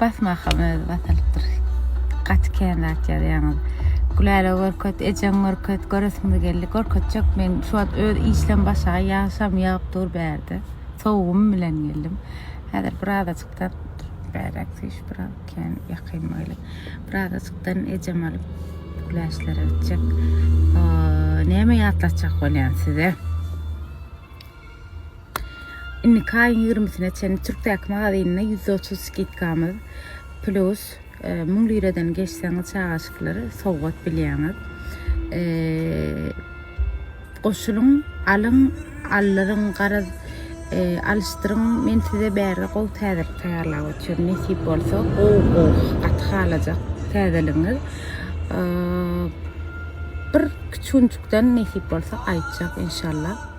Basmakam özi basalypdyr. Gaty kän zat ýazýaňyz. Gülälä görket, ejeň görket, göresimiz geldi. Görkezjek men şu wagt öz işlem başaga ýagşam ýagyp dur bärde. Sowugym bilen geldim. Häzir birazajykdan bärek süýş biraz kän ýakyn boýly. Birazajykdan ejem alyp güläçlere gitjek. Neme ýatlatjak bolýan size? Indiki aýyň ýigrimisine çenli Türkdäki magazynynda ýüz otuz skidkamyz plus müň liradan geçseňiz çagaşyklar sowgat bilýäňiz. Goşulyň, alyň, aldyryň, garaz alyşdyryň. Men size bärde gowy täzelik taýýarlap otyr. Nesip bolsa, gowy gowy gaty halajak täzeligiňiz. Bir kiçunjukdan nesip bolsa gaýtjak inşallah.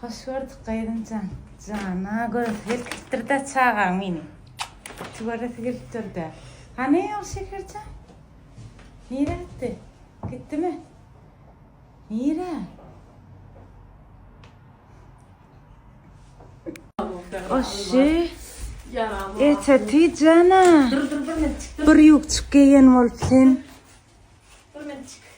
Hoş gördük Gaýynjan jana göz ýetiripdirda çagaň meni ýiti göresi gelip durda. Hany ol Şekerjan? Nirä gitdi? Gitdimi? Nirä? Oşşy. Ete ty jana. Bir ýukçuk geýen bolup sen.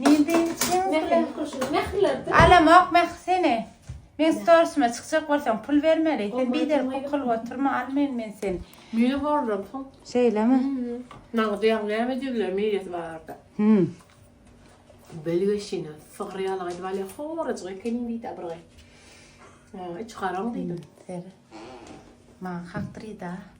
Men sen içiň bilen kuşuň mähirlerdir. Alamok mähir seni. Men storsuma çykjak bolsaň pul bermeli. Sen bider kukul oturma al men men sen. Mire borlar pul. Şeýlemi? Nagdy ýaň näme diýdiler miresi barada. Hmm. Belgeşine sygyr ýaly aýdyp alýa horajyk ekeniň diýdi bir gyz. Iç garaň diýdim. Seri. Maňa hakdyr diýdi.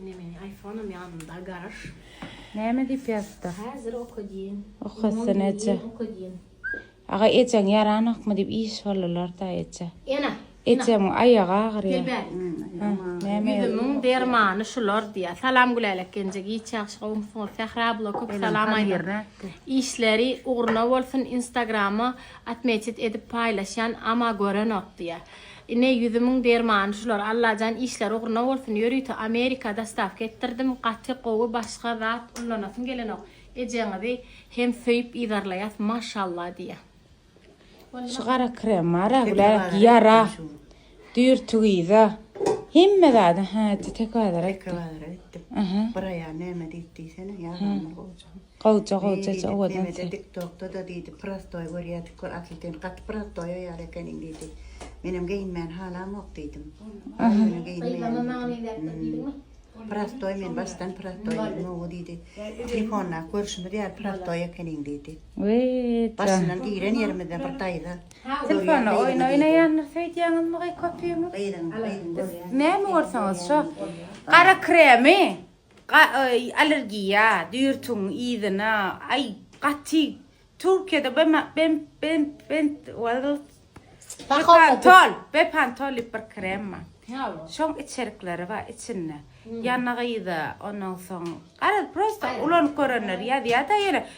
Ine meniň ayfonam ýanymda garaş. Näme diýip ýazypdyr. Häzir oka diýen. Okasyn eje. Oka diýen. Aga ejeň ýaranokmy diýip iş boldylarda eje. Ene. Ejemiň aýagy agyrýar. Gelbäri. Ýüzümiň dermany şular diýýär. Salam Gülälek genje giç ýagşy gowumsyňyz. Sähra abla köp salam aýdar. Işleri ugruna bolsun instagrama atmeçit edip paýlaşýan ama görenok diýýär. Ine ýüzümiň dermany şular Allajan işleri ugruna bolsun ýörite Amerika dostawka etdirdim gaty gowy başga zat ullanasym gelenok ejeňizi hem söýüp yzarlaýas maşallah diýýä. Şu gara krem bara güläýik ýara düýr tüwüza hemme zada hä teke bazara gitdim. Teke bazara gitdim. Bir aýal näme diýip diýsene ýaramaz gowy. Gowja gowjaja owadan ses. Meni diýdi, Dik tokda-da diýdi, prostoý görýädik gör, asyl sen gaty prostoý aýal ekeniň diýdi. Menem geýinmäni halamok diýdim. Ýöne geýinmäýin. Prostoý men başdan prostoý diýdim, owo diýdi. Telefonda görşümiz ýaly prostoý ekeniň diýdi. Başyndan giren ýerimizde bir daýza. Telefonda oýun oýnaýandyr söýdýäňizmi geý köpüňiz? Gyzyň, gyzyň görýän. Näme görseňiz şo. Gara kremi Gaý, allergiýa, dürtüň yzyna, aý, gaty, Türkiýede bema, bem, bem, bem, wazlt, bepantol, bepantol diýip bir krem bar. Şoň içerikleri bar içinde. Ýanygyda, ondan soň, garaz, prosta ulanyp görenler ýazýa-da ýöne,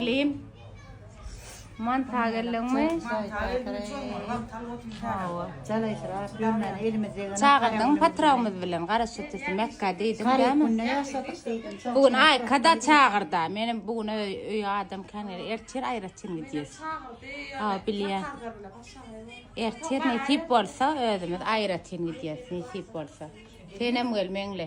Lim. Man tagelliňmi? Çagyrdym patragymyz bilen gara sütüsi mekka diýdim dämi? Bu gün aý kada çagyrda. Menem bu gün öý öý adam kän gel ertir aýratyn gidýäs. Ha bilýän. Ertir nesip bolsa özümiz aýratyn gidýäs nesip bolsa. Senem gel meňle.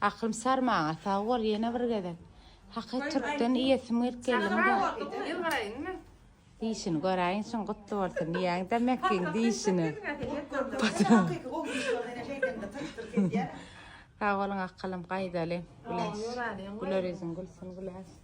Aklym sar maňa sag bol ýene bir gezek haky türkden iýesim gelip geldim da. Dişini göräýiň şuň gutly bolsun diýäňdä Mäkiň dişini. Sag boluň akylym gaýdaly. Güler ýüzüň gülsün güläş.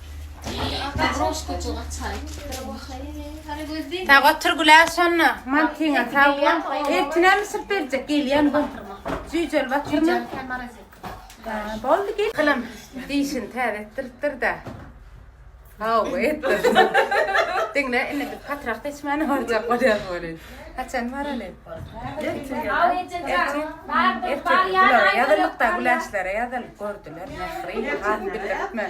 Sag otur Güler şonda. Mantyňa sag bol. Ertine mi sürüp berjek? Gelýän bu. Jüjel batyrma. Boldy gel. Kylym dişini täze etdiripdir da. Hawa etdir. Diňle indi bir patrak seçmäni barjak bolýar bolýar. Haçan baraly? Ertesi. Ertesi. Ýazylykda güläşlere ýazylyp gördüler. Nähri, hal bildirtme.